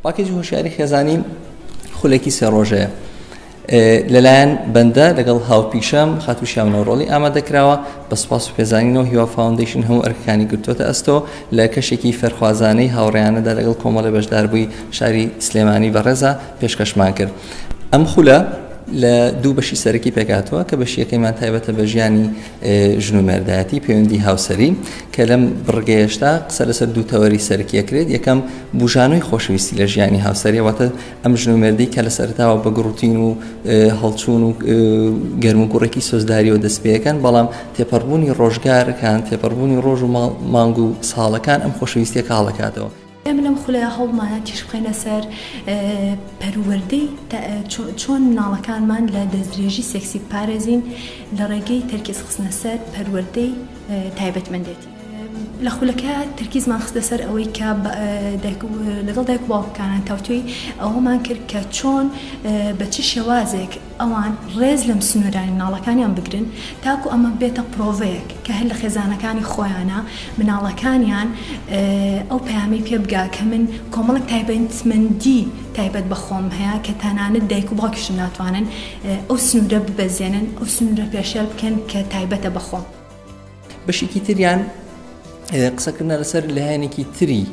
پاکێجی هۆشیاری خێزانی خولێکی سێ ڕۆژەیە لەلایەن بەندە لەگەڵ هاوپیشەم خاتو شامنەوەڕۆڵی ئامادەکراوە بە سپاس و پێزانینەوە هیوا فاونندیشن هەموو ئەرکەکانی گرتوتە ئەستۆ لە کەشێکی فەرخوازانەی هاوڕیانەدا لەگەڵ کۆمەڵە بەشداربووی شاری سلێمانی بەڕێزە پێشکەشمان کرد ئەم خولە لە دوو بەشی سەرەکی پێکاتەوە کە بەشی یەکەیمان تایبەتە بە ژیانی ژن و مێردایەتی پەیوەندی هاوسەری کە لەم بڕگەیشتا قسە لەسەر دوو تەوەری سەرکیەکرێت یەکەم بژانوی خۆشەویستی لە ژیانی هاوسەریەوەتە ئەم ژن و مێردی کە لە سەرتاوە بە گوڕوتین و هەڵچوون و گەرم و گوڕێکی سۆزداریەوە دەست پێەکەن بەڵام تێپەڕبوونی ڕۆژگارەکان تێپەڕبوونی ڕۆژ و مانگ و ساڵەکان ئەم خۆشەویستە کاڵەکاتەوە ئێمە لەم خولەیە هەوڵمانە تیش بخەینە سەر پەروەردەی چۆن مناڵەکانمان لە دەستدرێژی سێکسی بپارێزین لە ڕێگەی تەرکیز خستنە سەر پەروەردەی تایبەتمەندێتی. لە خولەکە تەرکیزمان خستە سەر ئەوەی کە لەگەڵ دایک و باوکەکانان تاوتوێی ئەوەمان کرد کە چۆن بە چ شێوازێک ئەوان ڕێز لەم سنوورانی مناڵەکانیان بگرن تاکو ئەمە ببێتە پرۆڤەیەک کە هەر لە خێزانەکانی خۆیانە مناڵەکانیان ئەو پەیامەی پێ بگا کە من کۆمەڵێک تایبەتمەندی تایبەت بە خۆم هەیە کە تەنانەت دایک و باوکیشم ناتوانن ئەو سنوورە ببەزێنن ئەو سنوورە پێشێل بکەن کە تایبەتە بە خۆم. بەشێکی تریان قسەکردە لەسەر لایەنێکی تری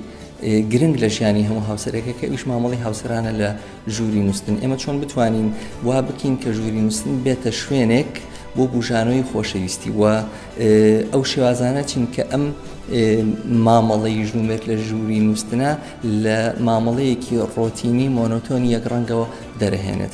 گرنگ لە ژیانی هەموو هاوسەرەکە کە ئیش مامەڵی هاوسرانە لە ژووری نووسن ئێمە چۆن بتوانین وا بکەین کە ژووری نووسن بێتە شوێنێک بۆ بژانەوەی خۆشەویستی و ئەو شێوازانە چین کە ئەم مامەڵەی ژوومێت لە ژووری نووسنا لە مامەڵەیەکی ڕۆتینی مۆنۆتۆنی یەک ڕەنگەوە دەرهێنێت.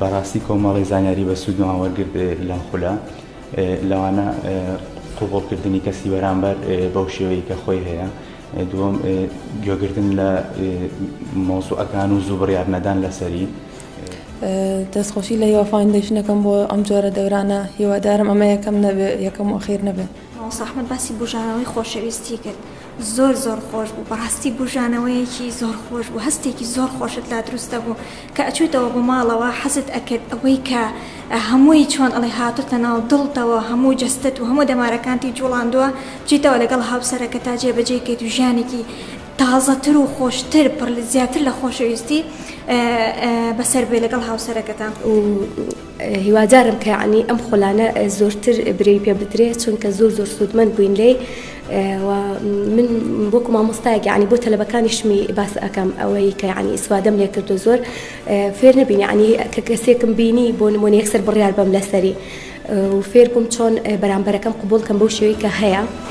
بەڕاستی کۆمەڵی زانیاری بە سوودمان وەرگرت لەم خولە لەوانە قوبڵکردنی کەسی بەرامبەر بەو شێوەی کە خۆی هەیە دووەم، گوێگرتن لە مەوزوعەکان و زوو بڕیار نەدان لەسەری. دەستخۆشی لە هیوا فاوندەیشن دەکەم بۆ ئەم جۆرە دەورانە، هیوادارم ئەمە یەکەم نەبێت، یەکەم و ئەخیر نەبێت. مامۆستا ئەحمەد باسی بوژانەوەی خۆشەویستی کرد زۆر زۆر خۆش بوو بەڕاستی بوژانەوەیەکی زۆر خۆش بوو هەستێکی زۆر خۆشت لا دروست دەبوو. کە ئەچویتەوە بۆ ماڵەوە حەزت ئەکرد ئەوەی کە هەمووی چۆن ئەڵێ هاتۆتە ناو دڵتەوە هەموو جەستەت و هەموو دەمارەکانتی جوڵاندوە بچیتەوە لەگەڵ هاوسەرەکەتا جێ بەجێی کەیت و ژیانێکی تازەتر و خۆشتر پڕ زیاتر لە خۆشەویستی بەسەر بێ لەگەڵ هاوسەرەکەتا. هیوادارم کە یەعنی ئەم خولانە زۆرتر برێوی پێ بدرێ چونکە زۆر زۆر سوودمەند بووین لێی و من وەکو مامۆستایەک یعنی بۆ تەلەبەکانیشمی باس ئەەکەم ئەوەی کە یعنی ئیسوادەم لێ کردو زۆر فێر نەبین یعنی کە کەسێکم بینی بۆ نمونە یەکسەر بڕیار بەم لەسەری فێر بووم چۆن بەرامبەرەکەم قوبولکەم بەو شێوەی کە هەیە.